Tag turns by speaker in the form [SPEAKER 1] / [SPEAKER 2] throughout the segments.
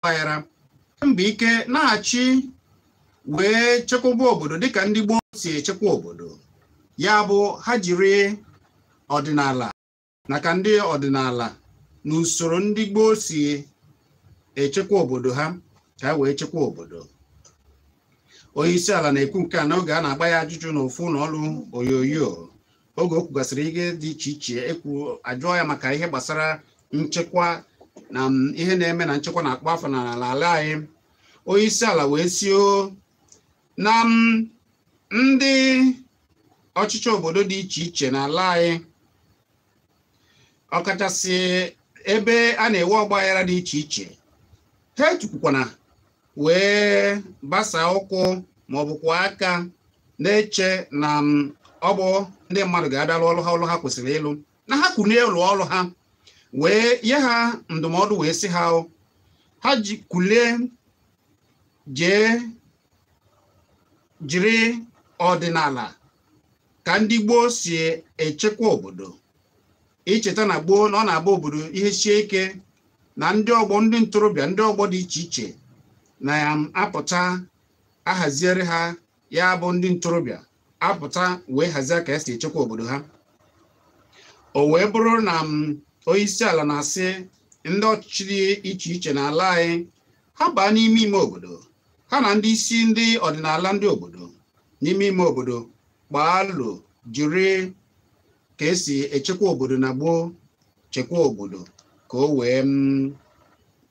[SPEAKER 1] ọgbaghara mba ike na-achị wee chekwaba obodo dịka ndị gboo si echekwa obodo ya bụ ha jiri ọdịnala na ka ndị ọdịnala na usoro ndị gboo si echekwa obodo ha ka e wee chekwa obodo onye isi ala na-ekwu nke a n'oge a na-agba ya ajụjụ n'ofu ụlọ ọrụ onyonyo oge o kwugasịrị ihe dị iche iche ekwu ajụọ ya maka ihe gbasara nchekwa na mm, ihe na-eme na nchekwa na-akpọ afọ n'ala n'ala anyị onye isi ala wee sị o na mm, ndị ọchịchị obodo dị iche iche n'ala anyị ọkachasị ebe a na-enwe ọgbaghara dị iche iche ha etukwukwana wee gbasa ụkwụ ma ọ bụkwa aka na-eche na mm, ọ bụ ndị mmadụ ga-abịa lụọ ọrụ ha ọrụ ha kwesịrị ịlụ na ha kulie lụọ ọrụ ha wee nye ha ndụmọdụ wee sị ha o, ha kulie jee jiri ọdịnala ka ndị gboo si echekwa obodo i cheta na gboo na ọ na-abụ obodo ihe sie ike na ndị ọgbọ ndị ntorobịa ndị ọgbọ dị iche iche na ya apụta ahaziere ha ya bụ ndị ntorobịa apụta wee hazie ka esi echekwa obodo ha o wee bụrụ na onye isi ala na-asị ndị ọchịchị dị iche iche n'ala anyị ha baa n'ime ime obodo ha na ndị isi ndị ọdịnala ndị obodo n'ime ime obodo kpaa alo jiri ka esi echekwa obodo na gboo chekwa obodo ka o wee mm,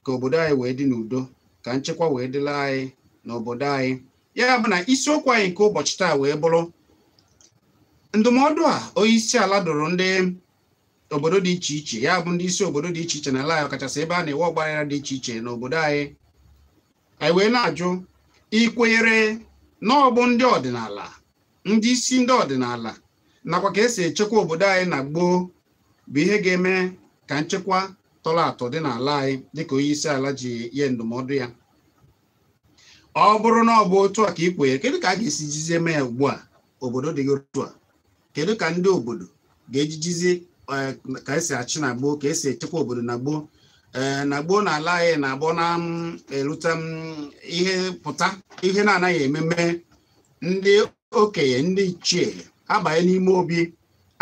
[SPEAKER 1] ka obodo anyị wee dị n'udo ka nchekwa wee dịla anyị n'obodo anyị ya bụ na isiokwu anyị nke ụbọchị taa wee bụrụ ndụmọdụ a onye isi ala dụrụ ndị obodo dị iche iche ya bụ ndị isi obodo dị iche iche n'ala anyị ọkachasị ebe a na-enwe ọgbaghara dị iche iche n'obodo anyị anyị wee na-ajụ i kwenyere na ọ bụ ndị ọdịnala ndị isi ndị ọdịnala nakwa ka esi echekwa obodo anyị na gboo bụ ihe ga-eme ka nchekwa tọrọ atọ dị n'ala anyị dịka onye isi ala ji nye ndụmọdụ ya ọ bụrụ na ọ bụ otu a ka i kwenyere kedu ka a ga-esi jizie mee ya ugbu a obodo dịghị otu a kedu ka ndị obodo ga-ejijizi eh, ka esi achị na gboo ka esi echekwa obodo na gboo eh, na gboo na ala anyị na-abụ na mm, erute mm, ihe pụta ihe na-anaghị eme eme ndị okenye ndị ichie abanye n'ime obi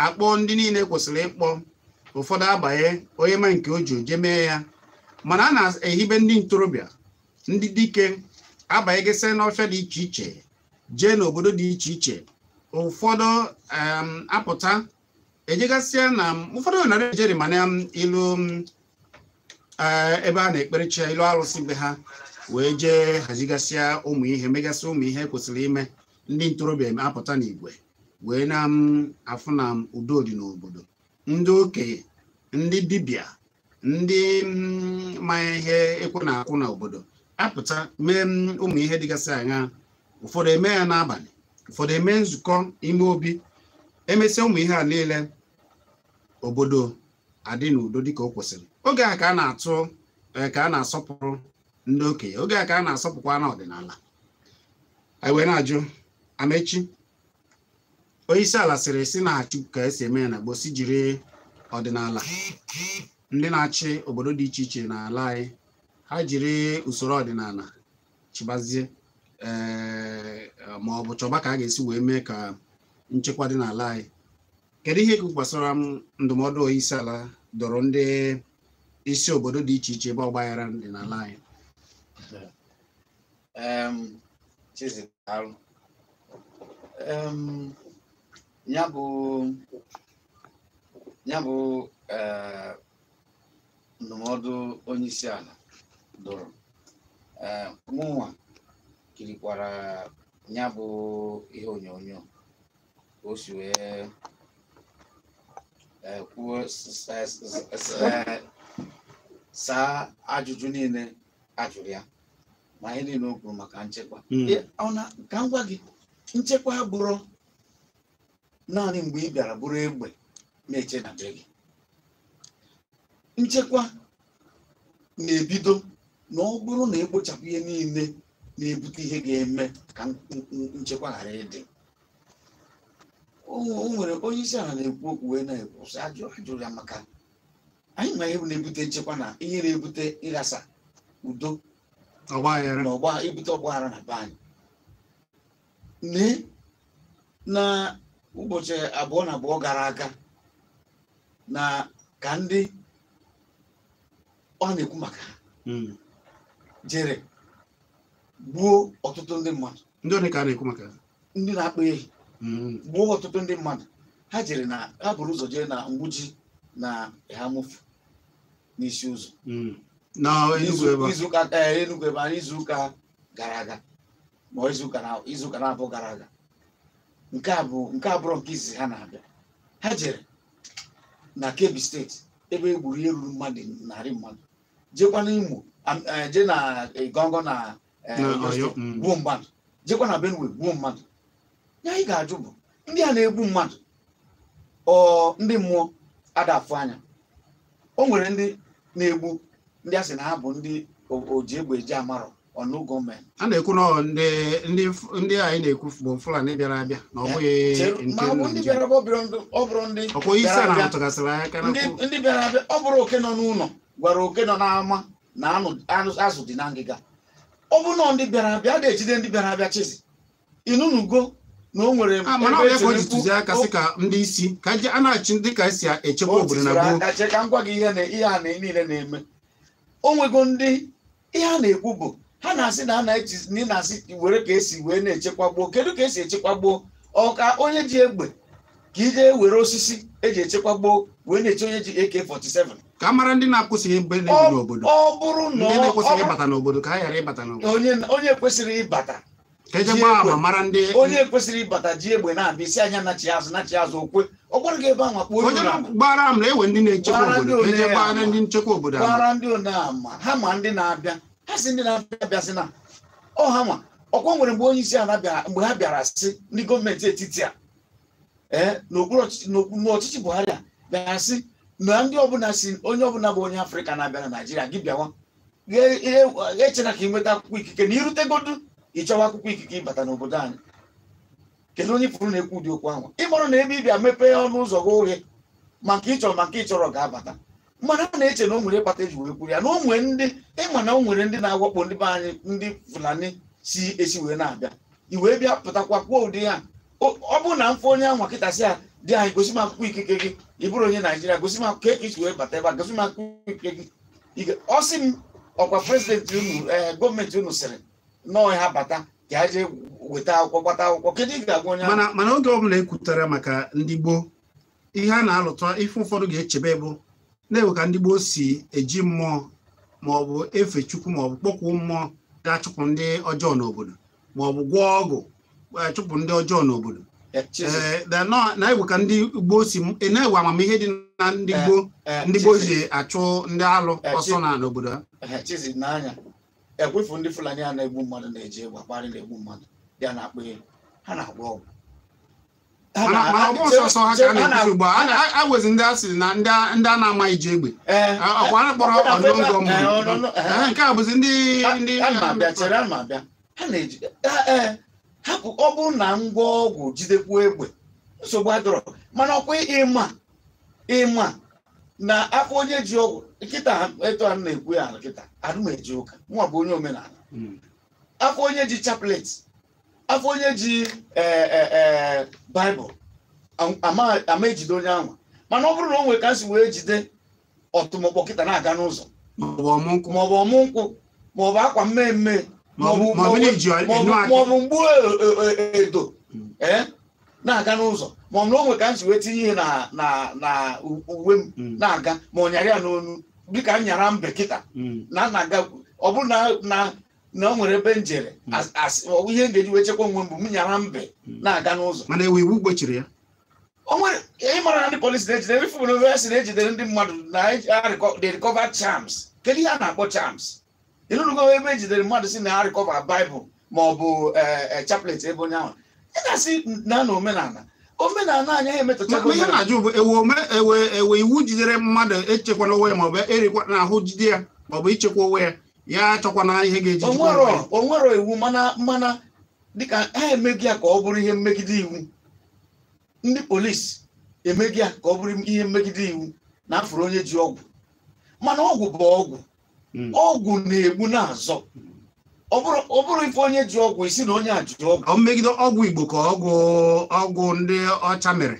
[SPEAKER 1] akpọ ndị niile kwesịrị ịkpọ ụfọdụ abanye onye ma nke o ji o jee mee ya mana a na-ehibe ndị ntorobịa ndị dike abanyegesị n'ọfịa dị iche iche jee n'obodo dị iche iche ụfọdụ apụta ejegasịa na ụfọdụ nara ejeri mana ilu eh, ebe a na-ekpere chi ilu arụsị be ha wee jee hazigasịa ụmụ ihe megasị ụmụ ihe kwesịrị ime ndị ntorobịa apụta n'igwe wee na-afụ na udo dị n'obodo ndị okenye ndị dibịa ndị mm, ma ihe ekwe na-akụ n'obodo apụta mee mm, ụmụ ihe dịgasị anya ụfọdụ eme ya n'abalị ụfọdụ eme nzukọ ime obi emesịa ụmụ ihe a niile obodo adị n'udo dịka o kwesịrị oge a ka a na-atụ eh, ka a na-asọpụrụ ndị okenye oge a ka a na-asọpụkwa na ọdịnala anyị wee na-ajụ Amechi onye isi ala sịrị sị na-achị ka e si eme ya na gboo sị jiri ọdịnala ndị na-achị obodo dị iche iche n'ala anyị ha jiri usoro ọdịnala chịbazie eh, ma ọ bụ chọba ka a ga-esi wee mee ka nchekwa dị n'ala anyị kedu ihe ikwu gbasara ndụmọdụ onye isi ala dụrụ ndị isi obodo dị iche iche ebe ọgbaghara dị n'ala anyị Chizi
[SPEAKER 2] daalụ ya bụ ya bụ eh, ndụmọdụ onye isi ala dụrụ eh, mụnwa kirikwara ya bụ ihe onyonyo o si wee eh, kwuo saa ajụjụ niile a jụrụ ya ma ihe niile o kwuru maka nchekwa Mm. Ị- ọ na ka m gwa gị nchekwa abụrọ naanị mgbe ị bịara buru egbe na-eche na be gị nchekwa na-ebido na ọ bụrụ na e kpochapụ ihe niile na-ebute ihe ga-eme ka n- n- n- nchekwa ghara ịdị o nwe- o nwere onye isi ala na-ekwu okwu wee na-ekwu sị ajụ a jụrụ ya maka anyị ma ihe na-ebute nchekwa na ihe na-ebute ịghasa udo ọgbaghara na ọgba ebute ọgbaghara na be anyị lee na ụbọchị abụọ na abụọ gara aga na ka ndị ọ na-ekwu maka ha Mm. jere gbuo ọtụtụ ndị mmadụ ndị ole ka a na-ekwu maka
[SPEAKER 1] ha ndị na-akpa
[SPEAKER 2] ehi Mm. gbuo ọtụtụ ndị mmadụ ha jere na ha buru ụzọ jee na mgbuji na Eha-Amufu n'Isi Ụzọ Mm. na Enugu ebe a. izuụka ee Enugu ebe anyị izuụka gara aga ma ọ izuụka na izuụka na abụọ gara aga nke a bụ nke abụrọ nke izizi ha na-abịa ha jere na Kebbi steeti ebe e gburu ihe ruru mmadụ narị mmadụ jekwa n'Imo am- eh, jee na Igangan na eh, Na Oyo Ọyọ, Steeti, mm. gbuo mmadụ jekwa na benue gbuo mmadụ ihe anyị ga-ajụ bụ ndị a na-egbu mmadụ ọ ndị mmụọ a da-afụ anya o nwere ndị na-egbu ndị a sị na ha bụ ndị o- oji egbe eji amarọ ọnụ gọọmenti a na-ekwu na ọ
[SPEAKER 1] ndị ndị ndị anyị na-ekwu bụ fulani bịara abịa na ọ bụghị Chere- nke ma ọ bụ ndị Naịjirịa. bịara bụ ọ
[SPEAKER 2] bụrụ ndị- ọ bụrụ ndị ọkwa onye isi bịara ala abịa. tụgasịrị aka na ndị ndị bịara abịa ọ bụrụ oke nọ n'ụlọ gwara oke nọ n'ama na anụ anụ azụ dị na ngịga ọ bụ na ndị bịara abịa a da-ejide ndị bịara abịa chizi ị nụnugo na o nwere a mana ebe ọ ya ka o ji esemokwu-
[SPEAKER 1] ntụziaka sị ka ndị isi ka je- a na-achị ndị ka esi echekwa o obodo na tiziri gboo aka chee ka m gwa gị ihe na
[SPEAKER 2] ihe a na niile na-eme o nwego ndị ihe a na-ekwu bụ ha na-asị na a na-eji na ị na-asị were ka esi wee na-echekwa gboo kedu ka esi echekwa gboo ọ ka onye ji egbe ka ị jee were osisi eji echekwa gboo wee na-eche onye ji AK47 ka a mara
[SPEAKER 1] ndị na-ekwesịghị mgbe na-ebi n'obodo ọ bụrụ na
[SPEAKER 2] ndị na-ekwesịghị ịbata
[SPEAKER 1] n'obodo ka ha ghara ịbata n'obodo onye
[SPEAKER 2] kwesịrị ịbata ka eje gbaa ama
[SPEAKER 1] mara ndị onye kwesịrị ịbata
[SPEAKER 2] ji egbe na-abịa ị sị a nya nachi azụ nachi azụ o kwe ọ gbara gị ebe ahụ kpọọ onye gbara
[SPEAKER 1] ama ewe ndị na-echekwa obodo ka eje gbaa ndị nchekwa obodo gbara ndị one
[SPEAKER 2] ama ha ma ndị na-abịa ha sị ndị na-abịa abịa sị na ọ ha ma ọkwa nwere mgbe onye isi ala bịara mgbe ha bịara sị ndị gọọmenti etiti a ee n'okpuru ọchịchị n'okpuru ọchịchị buhari a bịa sị na ndị ọbụla si onye ọbụla bụ onye afrịka na-abịa na naijiria gị bịawa echena ka ị nweta akwụkwọ ikike na i rutegodu ị chọwa akwụkwọ ikike ịbata n'obodo anyị kedu onye pụrụ na-ekwu ụdị okwu ahụ ị marọ na ebe ị bịa mepee ọnụ ụzọ gị oghe ma nke ị chọrọ ma nke ị chọrọ ga-abata mana a na-eche na o nwere ihe kpata eji wee kwuru ya na o nwere ndị ị ma na o nwere ndị na-awakpo ndị be anyị ndị fulani si esi wee na-abịa i wee bịa pụtakwa kwuo ụdị ya ọ ọ bụrụ na m fụ onye ahụ kịta sị ya dị anyị gosi m akwụkwọ ikike gị ị bụrụ onye naijiria gosi m akwụkwọ ka i si wee bata ebe a gosi m akwụkwọ ikike gị Ị ga- ọ sị m ọkwa prezidenti unu ee gọọmenti unu sịrị na ọ ha bata ka ha jee weta akwụkwọ gbata akwụkwọ kedu ị ga-agwa onye ahụ mana mana oge ọbụla
[SPEAKER 1] ekwutara maka ndị gboo ihe a na-alụta ife ụfọdụ ga-echebe bụ na-ewe ka ndị gboo si eji mmụọ ma ọ bụ efe chukwu ma ọ bụ kpọkwuo mmụọ ga-achụpụ ndị ọjọọ n'obodo ma ọ bụ gwọọ ọgwụ achụpụ ndị ọjọọ n'obodo na-ewe ka ndị gboo si na-ewe amamihe dị na ndị gboo ndị gboo ji achụ ndị alụ ọsọ na n'obodo ha chizi n'anya
[SPEAKER 2] ekwefu ndị fulani a na-egbu mmadụ na-eji egbe akparị na-egbu mmadụ ya na-akpụ ha na-agwọ ọgwụ
[SPEAKER 1] Ha mana na- mana ọ bụ sọsọ ha ka a ha na- na-ekwusi ugbu a ha na- a wezi ndị a sịrị na ndị a- ndị a na-amaghị ji egbe Ee. A- ọkwa a kpọrọ Ọ na-abịa ebe a- unknown gunmen ee, ọ nọ- mmadụ ee. Ee, nke a bụzi ndị ndị a ma abịa chere a ma abịa
[SPEAKER 2] ha na-eji ha- ee, hapụ ọ bụrụ na m gwọọ ọgwụ jidekwuo egbe nsogbu adịrọ mana ọkwa ịma ịma na afụ onye ji ọgwụ kịta etu a na-ekwu ya kịta adị m eje ụka mụwa bụ onye omenala Mm. afụ onye ji chaplet afụ onye ji ee e e baịbụl am- ama ama ejide onye ahụ mana ọ bụrụ na o nwere ka m si wee jide ọtụmọkpọ kịta na-aga n'ụzọ maọbụ ọmụ nkwụ maọbụ ọmụ nkwụ maọbụ akwa mmee mmee maọbụ Maọbụ- maọbụ na iji maọbụ- enu aka. maọbụ mgbu e- e- e- edo Mm. ee na-aga n'ụzọ maọbụ na o nwere ka m si wee tinye ihe na na na u- uwe m Mm. na-aga ma ọ nyara ya n'onu dịka m nyara mbe kịta Mm. na na-aga ọ bụrụ na na na o nwere ebe m jere hmm. ọwụ ihe m ga-eji wee chekwa onwe m bụ m nyara mbe hmm. na-aga n'ụzọ mana enwe iwu gbochiri
[SPEAKER 1] ya o
[SPEAKER 2] nwerọ ị mara na ndị polisi na-ejidere ife bụrụ ya si na-ejidere ndị mmadụ na they recover charms kedu ihe a na-akpọ charms ịnụnụgo ebe ejidere mmadụ sị na ha recover Bible ma ọ bụ eh, eh, chaplet ebe onye ahụ ị ga-asị na na omenala omenala anyị emetụtago ihe na-ajụ bụ
[SPEAKER 1] enwe iwu jidere mmadụ echekwana onwe ya maọbụ erikwa na ahụ jide ya maọbụ ichekwa onwe ya ya achọkwana ihe ga-eji chekwa onwe ya.
[SPEAKER 2] onwerọ iwu mana mana dịka ha emeghị ya ka ọ bụrụ ihe mmegide iwu ndị polisi emeghị ya ka ọ bụrụ ihe mmegide iwu na afụrụ onye ji ọgwụ mana ọgwụ bụ ọgwụ Mm. ọgwụ na-egbu na-azọ ọ bụrụ ọ bụrụ ịfụ onye ji ọgwụ ị sị na onye a ji ọgwụ Ọ megide ọgwụ igbo ka
[SPEAKER 1] ọgwụ ọgwụ ndị ọcha mere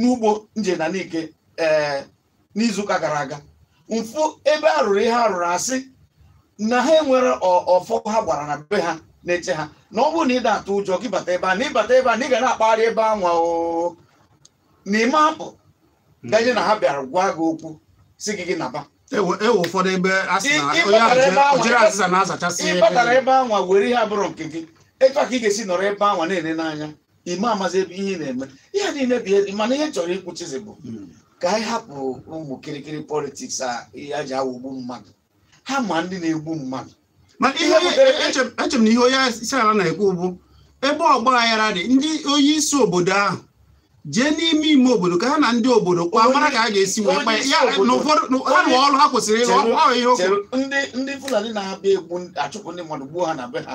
[SPEAKER 2] n'ugbo m je na nike ee eh, n'izuụka gara aga m fụ ebe a rụrụ ihe a rụrụ asị na ha enwere ọfọ ha gbara na be ha na-eche ha na ọ bụrụ na ịda atụ ụjọ gị bata ebe a na ịbata ebe a na ị ga na-akpagharị ebe anwa oo na ịma apụ ganye na ha bịara gwa gị okwu si gị gị naba e enwee
[SPEAKER 1] ụfọdụ ebe ojiri azịza na-azachasị ịbatara ebe anwa
[SPEAKER 2] were ihe abụrọ nke gị etu a ka ị ga-esi nọrọ ebe anwa na-ele n'anya ime amazi ebe ihe ị na-eme ihe niile bụ ihe mana ihe chọrọ ikwuchizi bụ Mm. ka anyị hapụ ụmụ kirikiri politiks a ihe a ji awọgbu mmadụ ha ma ndị na-egbu mmadụ mana ihe Ihe butere-
[SPEAKER 1] eche m- eche m na ihe onye isi ala na-ekwu bụ ebe ọgba aghara dị ndị onye isi obodo ahụ jee n'ime ime obodo ka ha na ndị obodo kwa mara ka a ga-esi wee kpa ya Onye isi na obodo- ụfọdụ na- ha nwe ọrụ ha kwesịrị ịrụ Chere- ọrụ ihe okwu chere ndị ndị fulani
[SPEAKER 2] na-abịa egbu achụpụ ndị mmadụ gbuo ha na be ha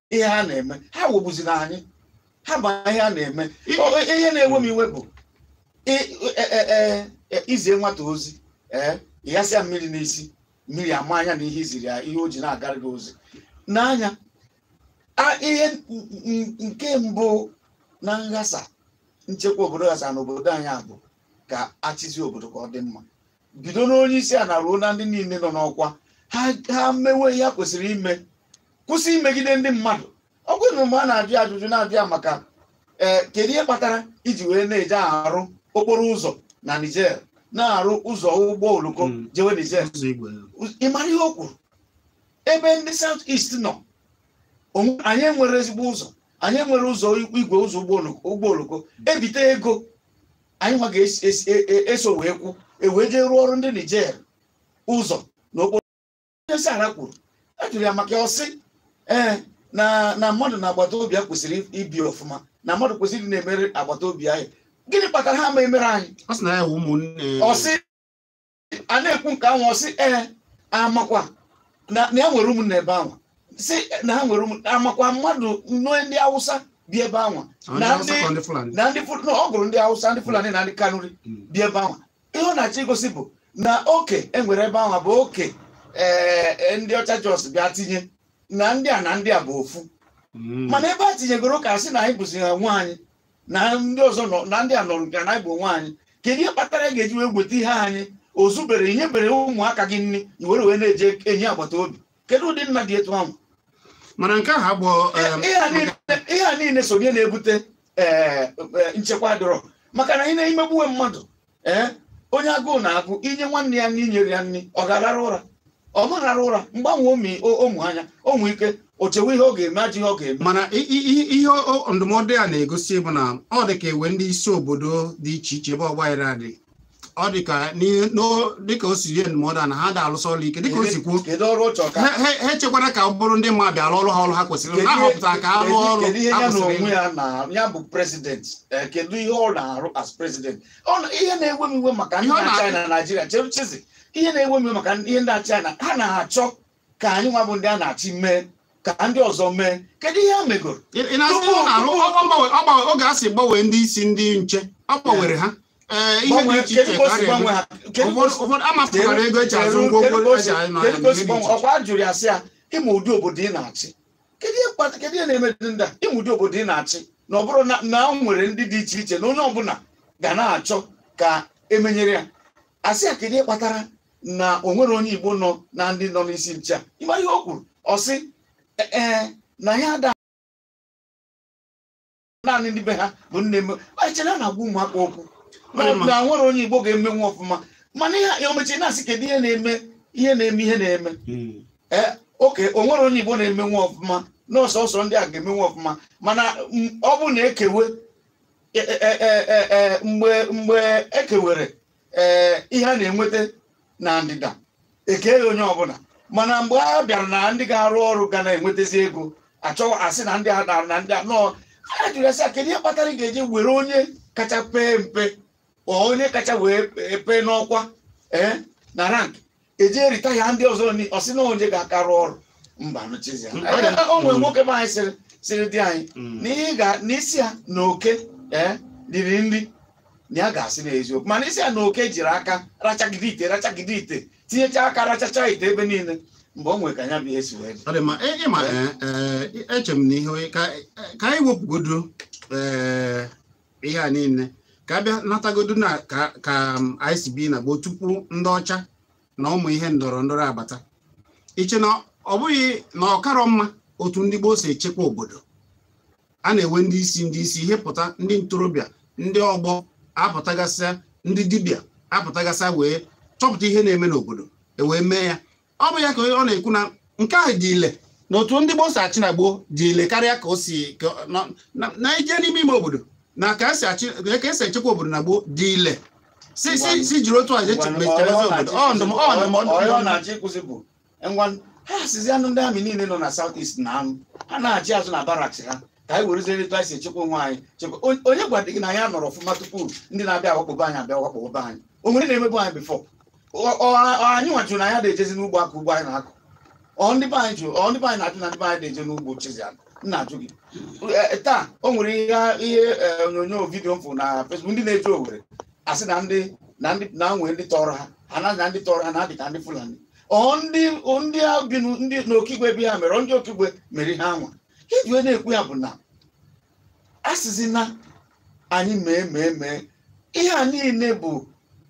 [SPEAKER 2] ihe ha na-eme ha wọgbuzina anyị ha ma ihe ha na-eme ihe na-ewe m iwe bụ e, e, e, izie nwata ozi ee ịghasa ya mmiri n'isi mmiri ama anya na ihe iziri ya ihe o ji na-agara gị ozi n'anya ihe nke mbụ na nghasa nchekwa obodo ghasa n'obodo anyị a bụ ka achịzi obodo ka ọ dị mma bido n'onye isi ana ruo na ndị niile nọ n'ọkwa ha ha mewe ihe ha kwesịrị ime kwụsị imegide ndị mmadụ ọ bụrụ na mgbe a na-ajụ ya ajụjụ na-ajụ ya maka ee kedu ihe kpatara iji wee na-eje arụ okporo ụzọ na Niger na-arụ ụzọ ụgbọ oloko Mm. jewe Niger ụzọ igwe ị mara ihe o kwuru ebe ndị South East nọ onwe- anyị enwere ezigbo ụzọ anyị enwere ụzọ igwe ụzọ ụgbọ oloko- ụgbọ oloko ebite ego anyị nwa ga-eso e, e, wee kwụ ewee jee rụọrọ ndị Niger ụzọ na onye isi ala kwuru ajụrụ ya maka ọ sị ee na na mmadụ na agbata obi ya kwesịrị ibi ọfụma na mmadụ kwesịrị na-emere agbata obi ya gịnị kpatara ha ma emere anyị ọ sị a na-ekwu nke ahụ ọ sị ee amakwa na na ya nwere ụmụnna ebe ahụ si na ha nwere ụmụ- amakwa mmadụ nwe ndị awụsa bi ebe ahụ Ọ na na awụsa ndị ka ọ ndị Fulani. na ndị Ful- na ọ gụrụ ndị awụsa ndị fulani na ndị kanuri Mm. bi ebe ahụ ihe ọ na-achọ igosi bụ na oke enwere ebe ahụ bụ oke ee, ee, ndị ọcha just bịa tinye na ndị a na ndị a bụ ofu Mm. mana ebe a tinyegoro ka a sị na anyị bụzi ha nwe anyị na ndị ọzọ nọ na ndị a nọrọ nke na bụ onwe anyị kedu ihe kpatara ị ga-eji wee weta ihe anyị ozubere inyebere ụmụaka gị nri i were wee na-eje enye agbata obi kedu ụdị nna dị etu ahụ mana nke
[SPEAKER 1] ahụ
[SPEAKER 2] bụ ihe a niile so ihe na-ebute nchekwa adịrọ maka na ị na-emegbuwe mmadụ ee onye agụụ na-agụ inye nwanne ya nri inyere ya nri ọ ga-arara ụra ọ ma arara ụra mgbe anwa ọ mụ o- ọ mụ anya o nwee ike o chewe ihe ọ ga-eme ajọ ihe ọ ga-eme mana i- i- i- ihe
[SPEAKER 1] o- o- ndụmọdụ a na-egosi bụ na ọ dị ka ewe ndị isi obodo dị iche iche ebe ọgbaghara dị ọ dị ka n'ihe- n'o- dịka o si nye ndụmọdụ a na ha da-alụsị ọrụ ike dịka o si kwuo kedu ọrụ ọ chọrọ ka ha ha- ha echekwara ka ọ bụrụ ndị mmadụ bịara ọrụ ha ọrụ ha kwesịrị kedu na ihe- ahọpụtara ka ha rụọ kedu- ọrụ kedu ihe ha ya na kwesịrị onwe ịrụ. ya
[SPEAKER 2] na ya bụ president eh, kedu ihe ọ na-arụ as president Ọ na- ihe na-ewe m iwe maka ndị Ihe ọ na-achị na-arụ. na Naịjirịa chere chizi ihe na-ewe m iwe maka ihe ndị achị na ha na-achọ ka anyị nwa bụ ndị a na-achị mee ka ndị ọzọ mee kedu ihe ha megoro ị ị na-asị ihe ọ na-arụ ọ- ọ gbanwe- ọ
[SPEAKER 1] gbanwe- oge a si gbanwee ndị isi ndị nche ọ gbanwere ha ee ihe dị Gbanwee, iche kedu iche ka o ka a si gbanwe na-eme ha Kedu ka o ụfọdụ si- ụfọdụ amapụtara ego eji azụ ngwongwo eji anyị na kedu ka o si ihe dị gbanwe iche
[SPEAKER 2] ọkwa a jụrụ ya sị ya ị ma ụdị obodo ị na-achị kedu ihe kpata kedu ihe na-emedu ndị a ị ma ụdị obodo ị na-achị na ọ bụrụ na na o nwere ndị dị iche iche na onye ọbụla ga na-achọ ka emenyere ya a sị ya kedu ihe kpatara na o nwerọ onye Igbo nọ na ndị nọ n'isi nche a ị ma ihe o kwuru ọ sị "E- ee na ya ada naanị ndị be ha bụ nne m echere a na-agwa ụmụaka okwu na Ọma. na o nwerọ onye Igbo ga-emenwu ọfụma mana ihe ya omechi na-asị kedu ihe na-eme ihe na-eme ihe na-eme Mm. ee okay o nwerọ onye Igbo na-emenwu ọfụma na ọ sọọsọ ndị a ga-emenwu ọfụma mana m- ọ bụ na ekewe e- e- e- e- e- mgbe mgbe ekewere ee ihe a na-enweta na ndịda ekenye onye ọbụla mana mgbe a bịara na ndị ga-arụ ọrụ ga na-enwetazi ego achọwa asị na ndị a dara na ndị a nọ a jụrụ asị kedu ihe kpatara ị ga-eji were onye kacha pee mpe or onye kacha wee pee n'ọkwa ee na rank eje retire ndị ọzọ ni ọ sị na onye ga-aka rụọ ọrụ mba nụchizi ya Mm. Anyị ga- o nwere nwoke be anyị sịrị sịrị di anyị Mm. na ị ga na ị sị ya na oke ee riri nri na ya ga-asị na eziokwu mana ị sị ya na oke jiri aka rachagide ite rachagide ite tinyecha aka rachacha ite ebe niile mgbe o nwere ka ya bụ ihe si wee dị ọ dị mma ị- ịma ee, ee, eche m na ihe
[SPEAKER 1] onye- ka ka anyị wepụgodo ee, ihe a niile ka a bịa natagodu na ka anyị si bi na gboo tupu ndị ọcha na ụmụ ihe ndọrọ ndọrọ abata ị che na ọ bụghị na ọ karọ mma otu ndị gboo si echekwa obodo a na-enwe ndị isi ndị isi ihe pụta ndị ntorobịa ndị ọgbọ apụtagasịa ndị dibịa apụtagasịa wee chọpụta ihe na-eme n'obodo e wee mee ya ọ bụ ya ka ọ na-ekwu na nke ahụ dị ile na otu ndị gboo si achị na gboo dị ile karịa ka o si na ị je n'ime ime obodo na ka e si echekwa obodo na gboo dị ile si si si jiri otu a echekwazi obodo ọ ndụmọdụ
[SPEAKER 2] ọ na-achọ ikwuzi bụ ngwa ha sizi anụ ndị army niile nọ na South East na anụ ha nachi azụ na barracks ha ka anyị werezie etu anyị si echekwa onwe anyị chekwa onye gwadị gị na anyị nọrọ ọfụma tupu ndị na-abịa awakpobe anyị abịa awakpobe anyị o nwere na-emebu anyị before Ọ- ọ- ọ anyị nwa jụrụ na anyị na-ejezi n'ugbo akụ ugbo anyị na-akụ ọ ndị be anyị jụrụ ọ ndị be anyị na-ajụ na ndị be anyị na-eje n'ugbo chizi akụ m na-ajụ gị Eh, taa o nwere ihe ihe eh, onyonyo video m fụ na Facebook ndị na-eje Owerri asị na ndị na ndị na nwee ndị tọrọ ha ha na na ndị tọrọ ha na-adị ka ndị Fulani ọ ndị ọ ndị a bi n'u- ndị n'Okigwe bi ha mere ọ ndị Okigwe mere ihe anwa ihe ji wee na-ekwu ya bụ na a sịzi na anyị mee mee mee ihe a niile bụ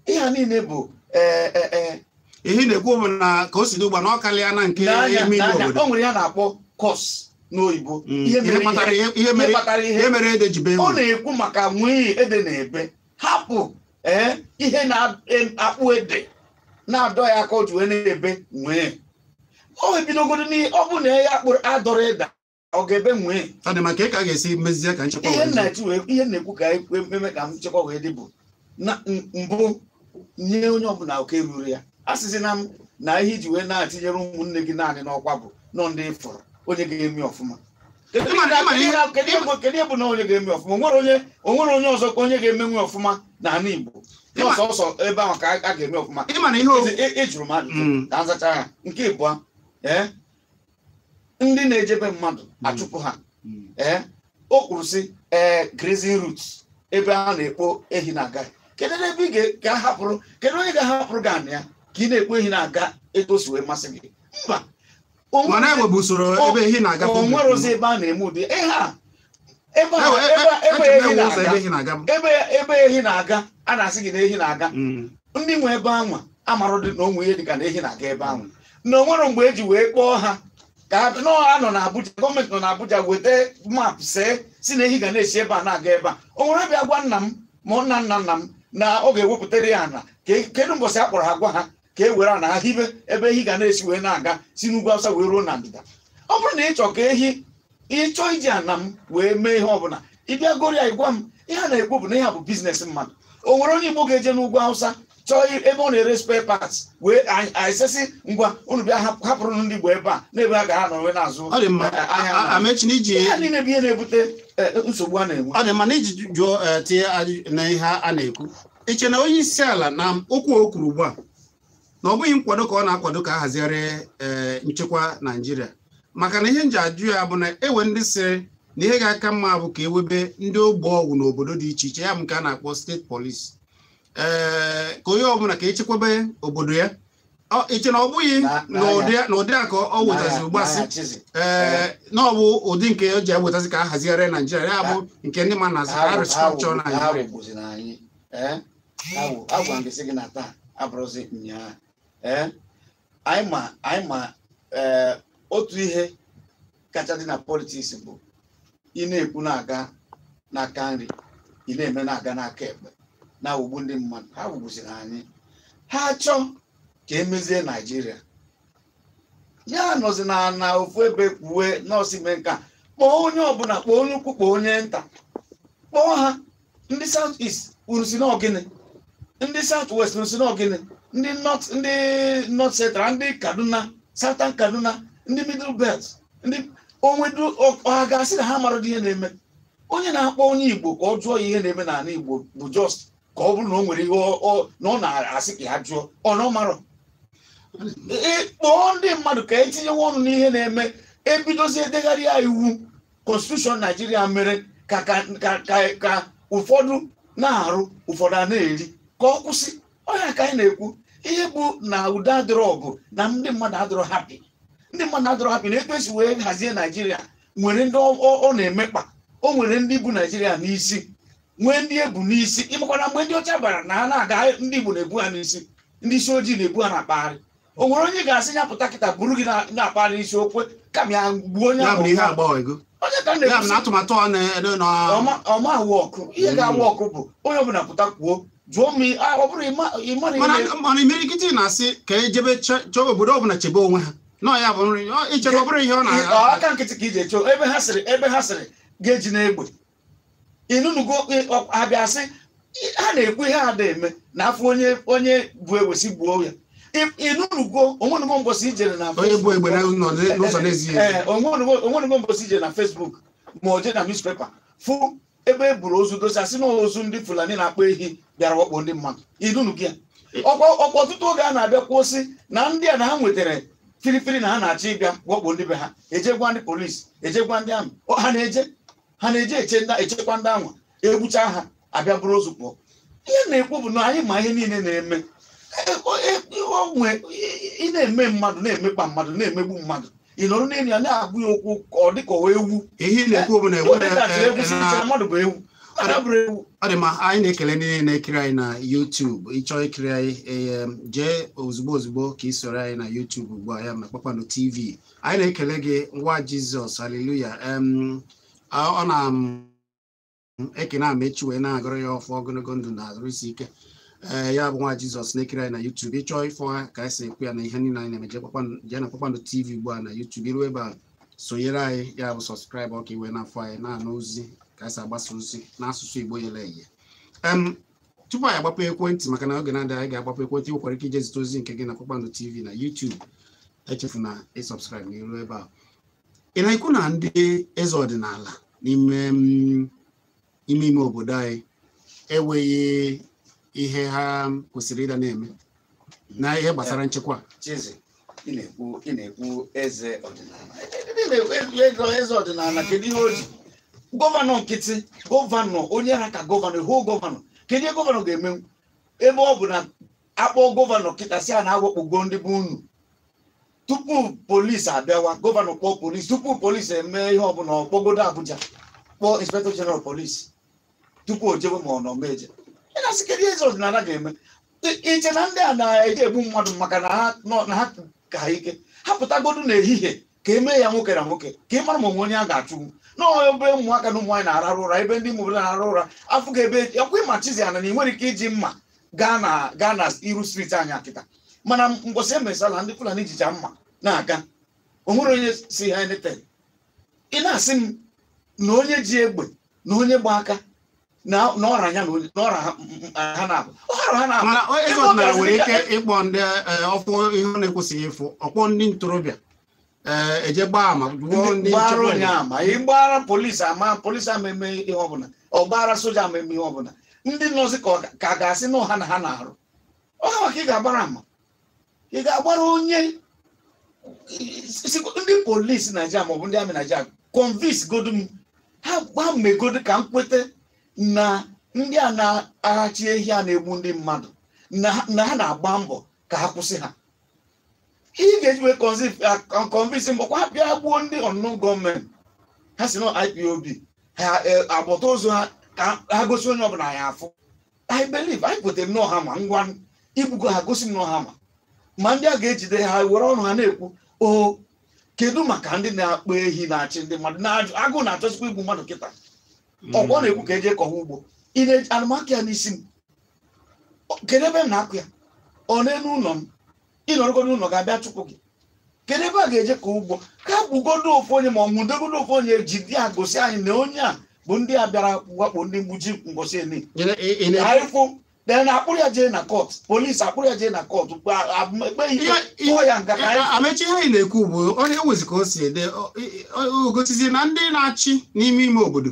[SPEAKER 2] ihe a niile bụ ee e,
[SPEAKER 1] e, e. ihe ị na-ekwu bụ na ka o si dị ugbu a na ọ karịa na nke N'anya, ime ime n'anya, obodo o nwere ihe a na-akpọ
[SPEAKER 2] cause n'oyibo Mm, ihe ihe kpatara
[SPEAKER 1] ihe- ihe mere kpatara ihe ihe mere ede ji bee ọ na-ekwu
[SPEAKER 2] maka nwịị ede na-ebe hapụ ee ihe na-akpụ ede na-adọ ya aka o ji wee na-ebe nwịị o ebidogoro n'ihe ọ bụ na ya kpụrụ adọrọ ede ọ ga-ebe nwịị ọ dị maka ka a
[SPEAKER 1] ga-esi mezie ka nchekwa ihe nna-etu wee ihe
[SPEAKER 2] na-ekwu ka ememe ka nchekwa wee dị bụ na mbụ nye onye ọbụla oke ruru ya asịzina m na ihe i ji wee na-etinyere ụmụnne gị naanị n'ọkwa bụ na ị fụrọ onye ga-eme ọfụma kedu ihe bụ na onye ga-eme ọfụma o nwere onye ọzọ ka onye ga-emenwu ọfụma n'ala Igbo ọ sọsọ ebe ahụ ka a ga-eme ọfụma ị jụrụ m ajụjụ mm. ka m zachaa ya nke ịbụa ee ndị na-ejebe mmadụ achụpụ ha ee o kwuru sị ee grazing route ebe a na-ekpo ehi na-aga kedu ebe ị ga- ga-ahapụrụ kedu onye ga-ahapụrụ gị anị ya ka ị na-ekpo ehi na-aga etu o si wee masị gị mba o mana nwere- e nwebu usoro ebe ehi na-aga o nwerọzi ebe a na-eme ụdị ihe a ebe a- Ewe- e- ebe a- e- ebe ehi echebeghị ụzọ ebe na-aga ehi na-aga m. ebe ebe ehi na-aga a na-asị gị na ehi na-aga Mm. ndị nwe ebe anwa amarọdị na o nwe ihe dịka na ehi na-aga ebe anwa na o nwere mgbe e ji wee kpọọ ha ka ha nọ ha nọ n'Abuja gọọmenti nọ n'Abuja weta map see sị na ehi ga na-esi ebe a na-aga ebe a o nwere bịa gwa nna m ma nna nna nna m na ọ ga-ewepụtara ya ana Ke- kedu mbọsị a kpọrọ ha gwa ha ka e were ana ha hibe ebe ehi ga na-esi wee na-aga si n'ugwu awụsa wee ruo na ndịda ọ bụrụ na ị chọọ ka ehi ị chọọ iji ana m wee mee ihe ọbụla ị bịa goro ya ị gwa m ihe a na-ekwu bụ na ihe a bụ business mmadụ o nwere onye igbo ga-eje n'ugwu awụsa chọọ i- ebe ọ na-ere spare parts wee anyị- anyị sịsị ngwa unu bịa hap- hapụrụ ndị igbo ebe a n'ebe ha ga-anọ wee na-azụ ọ dị mma eh, ahịa A- a- na- amechi na iji ihe a niile bụ ihe na-ebute eh, nsogbu a na-enwe ọ dị mma na i ji jụọ
[SPEAKER 1] eh, tinye ajụjụ na ihe a na-ekwu i che na onye isi ala na okwu a o kwuru ugbu a na ọ bụghị nkwado ka ọ na-akwado ka a hazigharị eh, nchekwa Naijiria maka na ihe m ji ajụ ya bụ na e nwere ndị sịrị na ihe ga-aka mma bụ ka e webe ndị ogbe ọgwụ n'obodo dị iche iche ya bụ nke a na-akpọ state police ee eh, ka onye ọbụla ka echekwebe obodo ya i che na ọ bụghị n'ụdị a ka o wetazi ugbu a sị ee na ọ bụ ụdị nke o ji ewetazi ka a hazigharịa naijiria ya bụ nke ndị ma na restructure naijiria
[SPEAKER 2] agwa m gị na taa abụrụzi nyaa anyị ma otu ihe kacha dị na politiks bụ ị na-ekwu na-aga n'aka nri ị na-eme na-aga n'aka ekpe na-awụgbu ndị mmadụ ha wụgbuziri anyị ha chọọ ka e mezie naijiria ya anọzina na ofu ebe kwuwe nọọsụ mee nka kpọọ onye ọbụla kpọọ onye ukwu kpọọ onye nta kpọọ ha ndị south east unu sị na ọ gịnị ndị south west unu sị na ọ gịnị ndị north ndị north central ndị kaduna southern kaduna ndị middle belt ndị o nwedụ ọha ga-asị na ha mara ihe na-eme onye na-akpọ onye igbo ka ọ jụọ ya ihe na-eme n'ala igbo bụ just ka ọ bụrụ na o nwere ihe na ọ na-asị ka ya jụọ ọ na ọ marọ kpọọ ndị mmadụ ka e tinyewe ọnụ n'ihe na-eme e bidozie e degharịa iwu konstitushọn naijiria mere ka ka ka ka ka ụfọdụ na-arụ ụfọdụ a na-eri ka ọ kwụsị ọ ihe a ka anyị na-ekwu ihe bụ na udo adịrọ ọ bụ na ndị mmadụ adịrọ hapi ndị mmadụ adịrọ hapi n'etu e si wee hazie naijiria nwere ndị ọ- ọ ọ na-emekpa o nwere ndị bu naijiria n'isi nwee ndị e bu n'isi ị makwa na mgbe ndị ọcha bịara na ha na-aga ndị igbo na-ebu ha n'isi ndị isi ojii na-ebu ha na-akpagharị o nwere onye ga-asị ya pụta kịta buru gị na- na-akpagharị n'isi o kwe kama ya gbuo onye ya bụ ahụ na ihe agbanwego onye ka m ya bụ na na-ekwusi atụmatụ ọ na-ede na ọma- ọma ahụ ọkụ ihe ga-awụ ọkụ bụ onye ọbụla pụta kwuo jụọ m i- ah, ọ bụrụ ịma ịma na mana ihe
[SPEAKER 1] mana imirikiti na-asị ka e jebe chọ- chọọ obodo ọbụla chebe onwe ha na ya bụ nri ọ- ichebe ọ bụrụ ihe ọ ọ n'aka nkịtị ka ị ga-eche
[SPEAKER 2] ebe ha sịrị ebe ha sịrị ga-eji n'egbe ị nụnugo a bịa sị ha na-ekwu ihe a na-eme na afọ onye onye bụ ewesi gbuo ya ị nụnugo o nwenugo mbọsị i jere na onye bu egbe n'ụzọ n'ezie o nwenugo mbọsị i jere na Facebook ma ọ jee na newspaper fụ ebe e buru ozu dosa sị na ozu ndị Fulani na-akpa ehi bịara wakpo ndị mmadụ ị nụnugo ya ọkwa ọtụtụ oge a na-abịa kwusi na ndị a na ha nwetara firifiri na ha na-achọ ịbịa wakpo ndị be ha e jee gwa ndị polisi e jee gwa ndị amị ha na-eje ha na-eji eche ndị echekwa ndị anwa egbucha ha abịa buru ozu pụọ ihe na-ekwu bụ na anyị ma ihe niile na-eme E- o- e- o nwe- ị na-eme mmadụ na-emekpa mmadụ na-emegbu mmadụ ị nọrọ n'elu ya na-agwa ya okwu ka ọ dị ka ọ ewu ihe ị na-ekwu bụ
[SPEAKER 1] na Ọ dị ka atụrụ egwu si enwere chere
[SPEAKER 2] mmadụ bụ ewu mmadụ bụrụ ewu ọ
[SPEAKER 1] dị ma anyị na-ekele ndị niile na-ekiri anyị na YouTube ị chọọ ikiri anyị em, jee ozugbo ozugbo ka ị soro anyị na YouTube ugbu a ya na Kpakpando TV anyị na-ekele gị nwa jizọs haleluya em ọ ọ na m ekene amechi wee na-agọrọ ya ọfọ ogologo ndụ na arụ isi ike ee ya bụ nwa jizọs na-ekiri anyị na yutubu ị chọọ ịfụ ha ka anyị si ekwu ya na ihe niile anyị na-eme jee kpakpando- jee na kpakpando tv ugbu a na yutubu i ru ebe a sonyere anyị ya bụ sọskraịbụ ka i wee na-afụ anyị na-anụ ozi ka anyị si agbasa ozi n'asụsụ igbo yere eye em tupu anyị agbapụ ekwentị maka na oge na-adịghị anya anyị ga-agbapụ ekwentị ị nwekwara ike ije zite ozi nke gị na Kpakpando TV na YouTube echefuna ịsọbskraịb n'iru ebe a ị na-ekwu na ndị eze ọdịnala n'ime mm, ime ime obodo anyị enweghị ihe ha kwesịrị ịda na-eme na ihe gbasara nchekwa Chizzy,
[SPEAKER 2] ị na-ekwu ị na-ekwu eze ọdịnala Ị na-ekwu eze eze ọdịnala kedu ihe o ji gọvanọ nkịtị gọvanọ onye ha ka gọvanọ hụ gọvanọ kedu ihe gọvanọ ga-eme ebe ọ bụ na a kpọọ gọvanọ kịta sị ya na a wakpogo ndị be unu tupu polisi abịawa gọvanọ kpọọ polisi tupu polisi eme ihe ọbụla ọ kpọgodo Abuja kpọọ inspector general polisi tupu o jewe ma ọ nọ meje ị na-asị kedu ihe eze ọdịnala ga-eme I- ị che na ndị a na-eje egbu mmadụ maka na ha nọ na ha ka ha ike ha pụtagodu n'ehihie ka e mee ya nwoke na nwoke ka ị mara ma o nwe onye a ga-achụgbu n'ọnwa ebe ụmụaka na ụmụnwaanyị na-arahụ ụra ebe ndị ụmụ obodo na-arahụ ụra afụ ga ebe ọkwa ị ma Chizzy ana na ị nwere ike iji mma gaa na gaa na iru striti anyị a kịta mana mbọsị e me Sallah ndị fulani jicha mma na-aga o nwere onye sị ha anything ị na-asị m na onye ji egbe na onye gba aka na na ọra ya na onye na ọra ha ha na-abụ ọra ha na-abụ mana onye Eze
[SPEAKER 1] ọdịnala bịaziri nwere ka- ike ịkpọ ndị eh, ọ fụ ihe ọ na-ekwesịghị ịfụ ọ kpọọ ndị ntorobịa eh, e jee gbaa ama gbuo ndị ndị gbara nchekwa onye obodo.
[SPEAKER 2] ama ị gbaara polisi ama polisi ama eme ihe ọbụla ọ gbaara soja ama eme ihe ọbụla ndị nọzi ka ọ ga- ka a ga-asị na ọ ha na ha na-arụ ọ ha maka ị ga-agbara ama ị ga-agbara onye ndị polisi naijiria maọbụ ndị amị naijiria convince godu m ha gba megodo ka m kweta na ndị a na-achị ehi a na-egbu ndị mmadụ na ha na-agba mbọ ka ha kwụsị ha ị ga-eji wee convince m bụkwa ha bịa gbuo ndị unknown gunmen ha sị na ọ IPOB ha ebute ozu ha ka ha gosi onye ọbụla ya afụ i believe anyị kwetere na ọ ha ma ngwa i gbugo ha gosi m na ọ ha ma ma ndị a ga-ejide ha were ọnụ ha na-ekwu o kedu maka ndị na-akpa ehi na-achụ ndị mmadụ n'agụ na-achọsikwa igbu mmadụ kịta ọkwa ọ na-ekwu ka e jee kọwa ugbo ị na-eji ana m akọ ya n'isi m O- kedu ebe m na-akọ ya ọ n'elu ụlọ m ị nọrọgodu n'ụlọ a ga-abịa chụpụ gị kedu ebe a ga-eje kọ ugbo ka e gbugodo ofu onye ma ọ nwụdegodo ofu onye jide ya gosi anyị na onye a bụ ndị a bịara wakpo ndị Mgbuji mbọsị eni Ị na- ị- ị na- anyị fụ dee na a kpụrụ ya jee na kọt polisi a kpụrụ ya jee na kọt ekpe ya ikpe Ihe- ihe- tụọ ya nga ka anyị emechie ihe anyị na-ekwu
[SPEAKER 1] bụ onye ewezi ka o si ede o- o- o gosizi na ndị na-achị n'ime ime obodo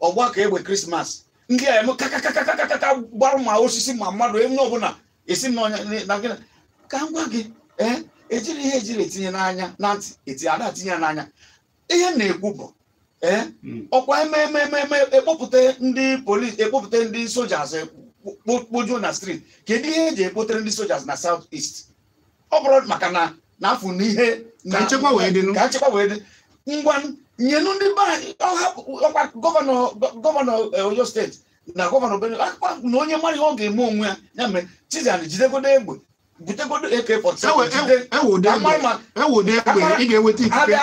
[SPEAKER 2] ọ gba ka egbe krismas ndị a eme kakakakakakaka gbara ma osisi ma mmadụ onye ọbụla esi m n'ọnya na gịnị ka m gwa gị ee ejiri ihe ejiri etinye n'anya na ntị eti ada etinye ya n'anya ihe m na-ekwu bụ ee ọkwa e mee e mee ekpọpụta ndị polis ekpọpụta ndị sojas kpojuo na street kedu ihe eji ekpotere ndị sojas na south east ọ bụrụ maka na n'afọ na ihe na nchekwa wee
[SPEAKER 1] dị ka nchekwa wee dị
[SPEAKER 2] ngwa nyenu ndị be anyị ọkwa gọvanọ gọvanọ eh, oyo steeti na gọvanọ benue akpa na onye mara ihe ọ ga-eme onwe ya ya mere chizan jidegodo egbe butegodo AK ewode egbe ị ga-enweta ikike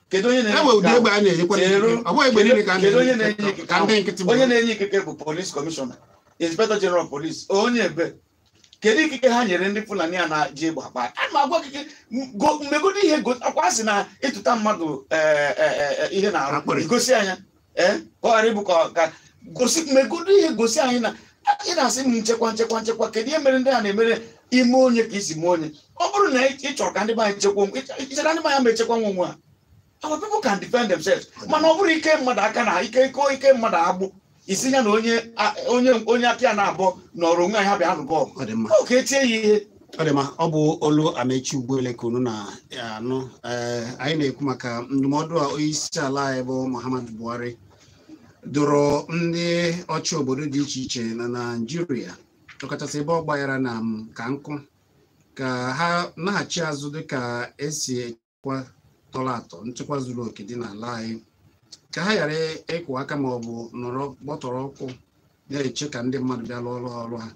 [SPEAKER 2] kedu onye na-enye ikike bụ polis kọmishọna inspector general police onye ebe kedu ikike ha nyere ndị fulani a na-eji egbe akpa a ma agwa gị go- megodo ihe go- ọkwa a sị na ịtụta mmadụ eh, eh, eh, eh, ihe n'arụ Akpịrị. gosi anya eh, ka ọ ghara ịbụ ka ọ- ka gosi megodo ihe gosi anyị na ị na-asị m nchekwa nchekwa nchekwa kedu ihe mere ndị a na-emere ime onye ka isi mee onye ọ bụrụ na ị ị chọrọ ka ndị be anyị chekwa onwe- i chere na ndị be anyị ama echekwanwu onwe ha our people can defend themselves mana ọ bụrụ ike mmadụ aka na ike ike ike mmadụ agbụ sị ya na onye a- onye onye aka ya n'abụọ nọrọ onwe ya bịa nụbọ ọ dị mma ọ ka etie ya ihe ọ dị mma ọ bụ
[SPEAKER 1] olu amechi ugboele ka unu na-anụ ee anyị na-ekwu maka ndụmọdụ a onye isi ala anyị bụ muhammadu buhari dụrụ ndị ọchị obodo dị iche iche na naijiria ọkachasị ebe ọ gbanyere na m ka nkụ ka ha naghachi azụ dịka esi nchekwa tọrọ atọ nchekwa zuru oke dị n'ala anyị ka ha ghara ịkụ aka ma ọ bụ nọrọ gbọtọrọ ụkwụ na-eche ka ndị mmadụ bịa lụọ ọrụ ha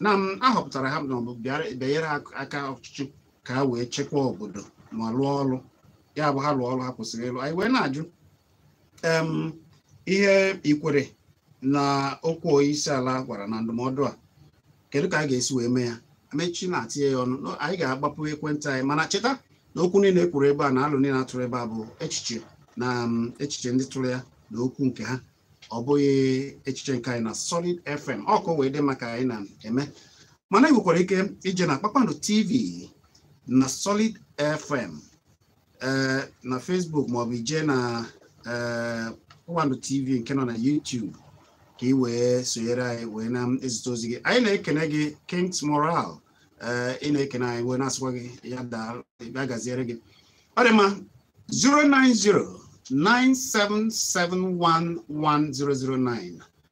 [SPEAKER 1] na a họpụtara ha na ọ bụ bịanyere aka ọchịchị ka ha wee chekwa obodo ma lụọ ọrụ ya bụ ha lụọ ọrụ ha kwesịrị ịlụ anyị wee na-ajụ ihe i kwere na okwu onyeisiala gwara na ndụmọdụ a kedu ka anyị ga-esi wee mee ya amechi na-atinye ya ọnụ anyị ga-agbapụ ekwentị anyị mana cheta na okwu niile e kwuru ebe a na alo niile atụrụ ebe a bụ echiche na um, echiche ndị tụrụ ya na okwu nke ha ọ bụghị echiche nke anyị na Solid FM ọkụ wee dị maka anyị na-eme mana ị nwekwara ike ije na Kpakpando TV na Solid FM ee eh, na Facebook maọbụ ije na eh, Ụwandu TV nke nọ na YouTube ka ị wee sonyere anyị wee na-ezite ozi gị anyị na-ekene gị Kings Moral eh, ị na-ekene anyị wee na-asịkwa gị ya daa ya gaziere gị ọ dị mma 090 9771109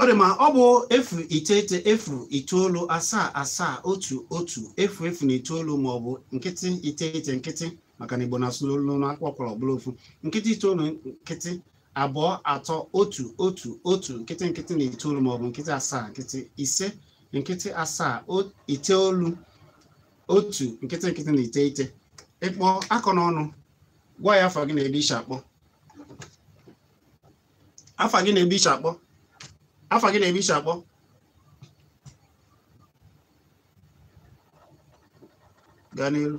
[SPEAKER 1] ọ dị mma ọ bụ efu iteghete efu itoolu asaa asaa otu otu efu efu na itoolu ma ọ bụ nkịtị iteghete nkịtị maka na igbo na-asụ n'olu na a kwaa ụkwara ọ bụrụ ofu nkịtị itoolu nkịtị abụọ atọ otu otu otu nkịtị nkịtị na itoolu maọbụ nkịtị asaa nkịtị ise nkịtị asaa iteolu otu nkịtị nkịtị na iteghete ị kpọọ akọ n'ọnụ gwa ya afa gị na ebe i shi akpọ afa gị na ebe i shi akpọ afa gị na ebe i shi akpọ gaa n'iru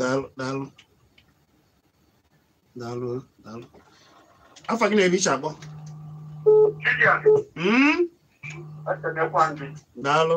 [SPEAKER 1] daalụ daalụ daalụ daalụ afa gị na ebe i shi akpọ Mm, daalụ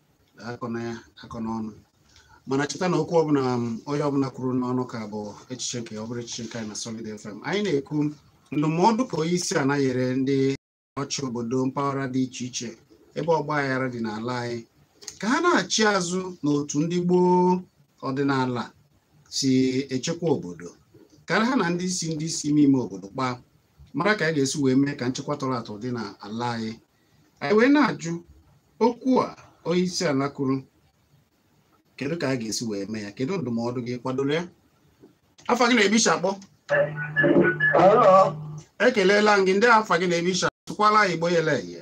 [SPEAKER 1] akọ na ya akọ n'ọnụ mana cheta na okwu ọbụla um, onye ọbụla kwuru n'ọnụ ka bụ echiche nke ya ọ bụrọ echiche nke anyị na Solid FM anyị na-ekwu ndụmọdụ ka onye isi ala nyere ndị ọchị obodo mpaghara dị iche iche ebe ọgba aghara dị n'ala anyị ka ha naghachi azụ n'otu ndị gboo ọdịnala si echekwa obodo ka ha na ndị isi ndị isi ime ime obodo kpaa mara ka a ga-esi wee mee ka nchekwa tọrọ atọ dị n'ala anyị anyị wee na-ajụ okwu a onye isi ala kwuru kedu ka a ga-esi wee mee ya kedu ndụmọdụ gị ị kwadoro ya afa gị na ebe i shi akpọ ekelela m gị ndị afa gị na ebe i shi tụkwala igbo yele eye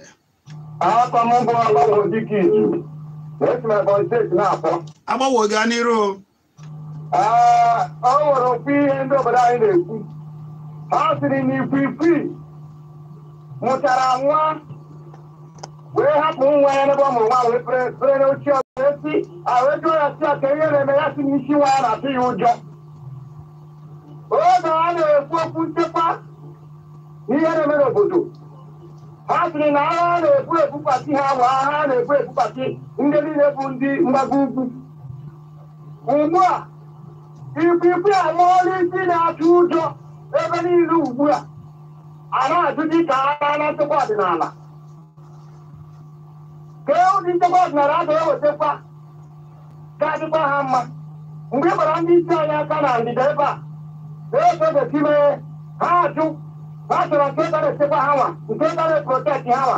[SPEAKER 1] agbawo gaa n'iru
[SPEAKER 3] Ah, ọ nwere okwu ihe ndị obodo anyị na-ekwu ha sịrị na ikwikwii mụchara nwa wee hapụ nwa ya n'ebe ọ mụrụ nwa wee pere pere n'oche ọzọ wee si a jụọ ya sị aka ihe na-eme ya sị na isi nwa ya na-atụ ya ụjọ oge a na-ekwu okwu nchekwa n'ihe na-eme n'obodo ha sịrị na agha a na-ebu ebupati ha bụ agha a na-ebu ebupati ndị niile bụ ndị mgbago ugwu ugbu a ikwikwi ala ọrụ isi na-atụ ụjọ ebe niile ugbu a a na-ajụ dị ka a gaa na nchekwa ọdịnala kee ụdị nchekwa ọdịnala a ga-ewetakwa ga-adịkwa ha mma mgbe ị gbara ndị isi anyị aka na ndịda ebe a na-esogosi mee ha ajụ ha chọrọ nke ga na-echekwa ha nwa nke ga na-eprotekt ha nwa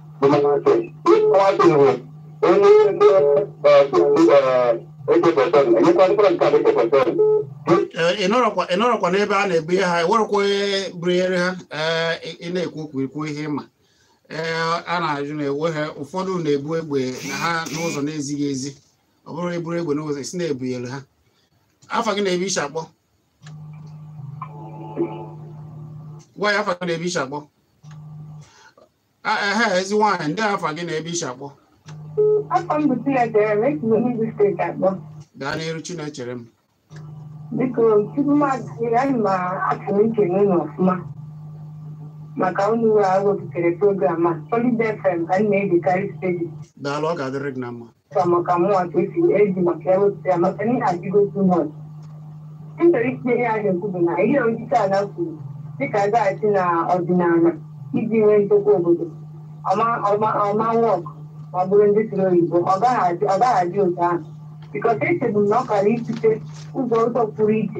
[SPEAKER 1] ị nọrọkwa n'egbe a na-ebu ihe ha enwerekwa onye bunyere ha ị na-ekwu okwu ikwu ihe ịma ee a na-ajụ na enwere ụfọdụ na-ebu egbe na ha n'ụzọ na-ezighị ezi ọ bụrụ eburu egbe n'ụzọ esi na-ebunyere ha afa gị na ebe i si akpọ gwa anyị afa gị na ebe i si akpọ Ah, ehe ezi nwaanyị ndị afa gị na ebe i si akpọ afa m bụ Chinecherem esi n'Enugwu steeti akpọ gaa n'iru Chinecherem biko
[SPEAKER 4] tupu m adịghị anyị ma achọrọ m ikene unu ọfụma maka unu wee wepụtara program a Solid FM ka m na-egekarị steeti daalụ ọ ga-adịrị
[SPEAKER 1] gị na mma Kwa maka mụnwa
[SPEAKER 4] ka esi eji maka ya wepụta ya maka na ihe adịgo too much. M chọrọ itinye ihe a na-ekwu bụ na ihe onyeisi ala kwuru dịka a gaghachi na ọdịnala iji nwee nchekwa obodo ọ ma wọk ma ọ bụrụ ndị siri oyibo ọ gaghị adị ọ gaghị adị otu ahụ because echebu m na ọ kara ịchọte ụzọ ụzọ pụrụ iche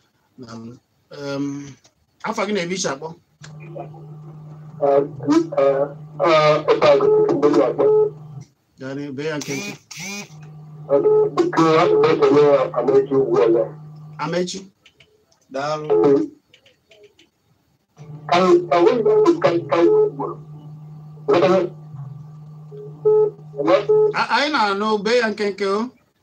[SPEAKER 1] Daalụ. Em, afa gị na ebe i si akpọ gaa n'ihu bee ya nkenke Amechi
[SPEAKER 2] daalụ A-
[SPEAKER 1] anyị na-anụ bee ya nkenke o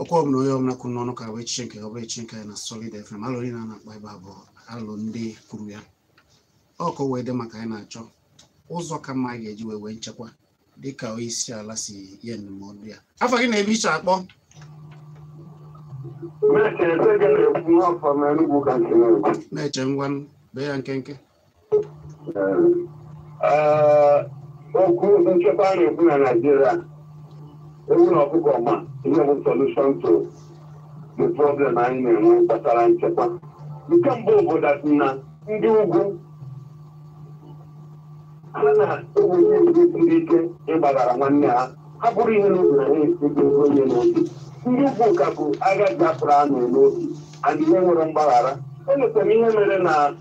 [SPEAKER 1] okwu ọbụla onye ọbụla kwuru n'ọnụ ka bụ echiche nke ya ọ bụrọ echiche nke anyị na Solid FM alụ niile a na-akpa ebe a bụ alụ ndị kwuru ya ọ ka o wee dị maka anyị na-achọ ụzọ ka mma anyị ga-eji wee nwee nchekwa dịka onye isi ala si nye ndụmọdụ ya afa gị na ebe i si akpọ na-eche ngwa bee ya nkenke
[SPEAKER 3] okwu nchekwa a na-ekwu na Naịjirịa ewu na ọkụkọ ma ihe bụ solution to the problem anyị na-enwe gbasara nchekwa nke mbụ bụ that na ndị ugwu ha na-enweghị ndị ike ịgbaghara nwanne ha ha buru ihe n'obi na ha esigo onye n'obi ndị ugwu ka bu agha Biafra ahụ n'obi and ihe nwere mgbaghara enwetara ihe mere na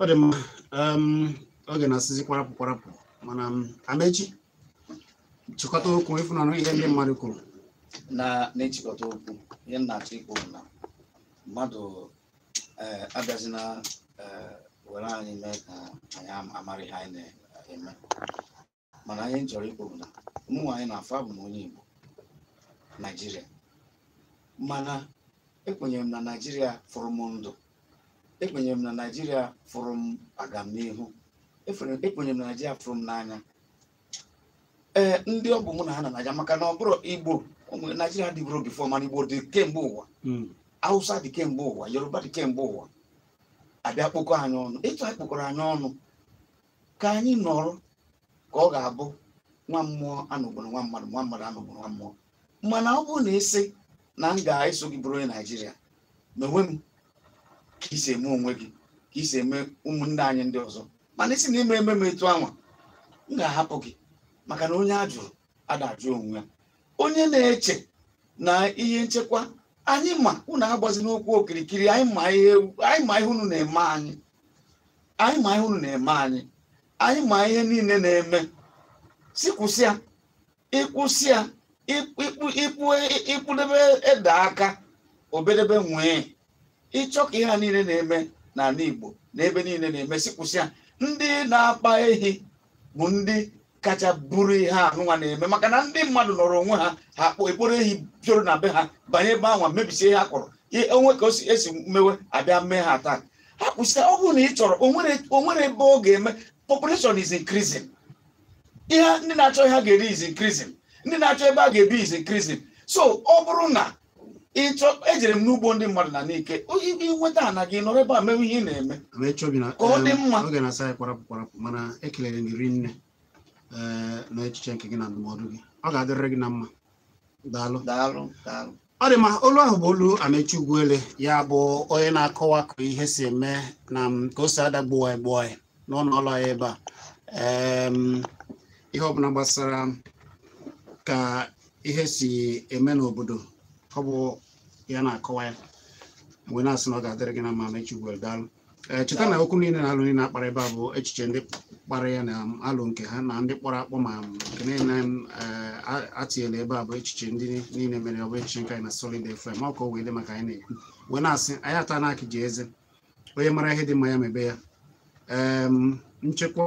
[SPEAKER 1] ọ dị mma um, oge na-asịzi kwarapụ kwarapụ mana um, Amechi chịkọta okwu ị fụnanụ ihe ndị mmadụ kwuru na
[SPEAKER 2] nchịkọta okwu ihe m na-achọ ikwu bụ na mmadụ eh, abịazina eh, were anyị mee ka anyị am- amarọ ihe anyị na-eme mana ihe m chọrọ ikwu bụ na mụ anyị na-afọ abụ m onye Igbo Naijiria mana ekwenyere m na Naijiria fụrụ m ndụ ekwenyere m na Naijiria fụrụ m agamnihu ekwenyere m na Naijiria fụrụ m n'anya ee ndị ọ bụ mụ na ha nọ Naija maka na ọ bụrụ Igbo Naijiria adịburọ before mana Igbo dị kemgbe ụwa hmm. Hausa dị kemgbe ụwa Yoruba dị kemgbe ụwa a bịa kpokọ anyị ọnụ etu anwa a kpokọrọ anyị ọnụ ka anyị nọrọ ka ọ ga-abụ nwa mmụọ anọgburọ nwa mmadụ nwa mmadụ anọgburọ nwa mmụọ mana ọ bụrụ na ị sị na m ga-eso gị bụrụ onye Naijiria mewe m ka i si eme onwe gị ka i si eme ụmụnne anyị ndị ọzọ mana ị sị na ị ma eme m etu anwa m ga-ahapụ gị maka na onye a jụrụ ada ajụ onwe ya onye na-eche na ihe nchekwa anyị ma unu agbazina okwu okirikiri anyị ma ihe anyị ma ihe unu na-eme anyị anyị ma ihe unu na-eme anyị anyị ma ihe niile na-eme sị kwụsị ya ị kwụsị ya ịkpụ- ịkpụ- ịkpụ- ị kpụdebe ede aka o bedebe nwịị ị chọọ ka ihe a niile na-eme n'ala Igbo na ebe niile na-eme si kwụsịa ndị na-akpa ehi bụ ndị kacha buru ihe anụnwa na-eme maka na ndị mmadụ nọrọ onwe ha ha ekporo ehi juru na be ha banye ebe anwa mebisie ihe ha kọrọ o nwee ka e si mewe a bịa mee ha taa ha kwụsịa ọ bụrụ na ị chọrọ o nwere ebe ọ ga-eme population is increasing ihe ndị na-achọ ihe ha ga-eri is increasing ndị na-achọ ebe a ga-ebi is increasing so ọ bụrụ na ị chọọ ejere m n'ugbo ndị mmadụ na n'ike i nweta ana gị nọrọ ebe a mewe ihe ị na-eme wee chọbi na Ka ọ dị em, mma. oge na-asị anyị kwarapụ kwarapụ
[SPEAKER 1] mana ekelere m gị rinne ee na echiche nke gị na ndụmọdụ gị ọ ga-adịrịrị gị na mma daalụ daalụ daalụ ọ dị mma olu ahụ bụ olu Amechi Ugwuele ya bụ onye na-akọwa ka ihe si eme na m, ka o si adagbuwa egbuwa n'ụnọ ọrụ anyị ebe a Em, ihe ọbụla gbasara ka ihe si eme n'obodo ọ bụ ya na-akọwa ya m wee na-asị na ọ ga-adịrị gị na mma Amechi Ugwuele daalụ Ee, cheta na okwu niile na alo niile a kpara ebe a bụ echiche ndị kpara ya na alo nke ha na ndị kpọrọ akpọ ma nke niile ee, a- atinyela ebe a bụ echiche ndị niile mere ọ bụrọ echiche nke anyị na Solid FM ọ ka o wee dị mma ka anyị na-ekwu wee na-asị anyị ata na akị ji eze onye mara ihe dị mma ya mebe ya nchekwa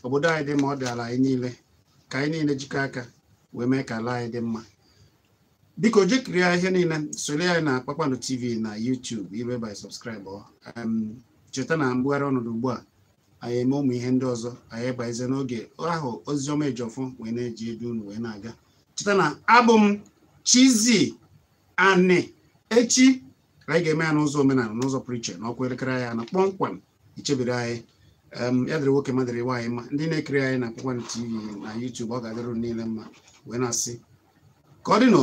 [SPEAKER 1] obodo anyị dị mma ọ dị ala anyị niile ka anyị niile jikọ aka wee mee ka ala anyị dị mma biko jee kirie ihe niile soro anyị na Kpakpando TV na YouTube ibe by subscribe cheta na mbugharị ọnọdụ ugbu a anyị eme ụmụ ihe ndị ọzọ anyị baize n'oge ahụ Oziọma Ejiofor wee na-eji edu unu wee na-aga cheta na abụ m Chizzy Ani echi anyị ga-eme ya n'ụzọ omenala n'ụzọ pụrụ iche na ọ kụọ elekere anyị anọ kpọmkwem i chebiri anyị ya dịrị nwoke ma dịrị nwaanyị mma ndị na-ekiri anyị na Kpakpando TV na YouTube ọ ga-adịrị unu niile mma wee na-asị ka ọ dị nụ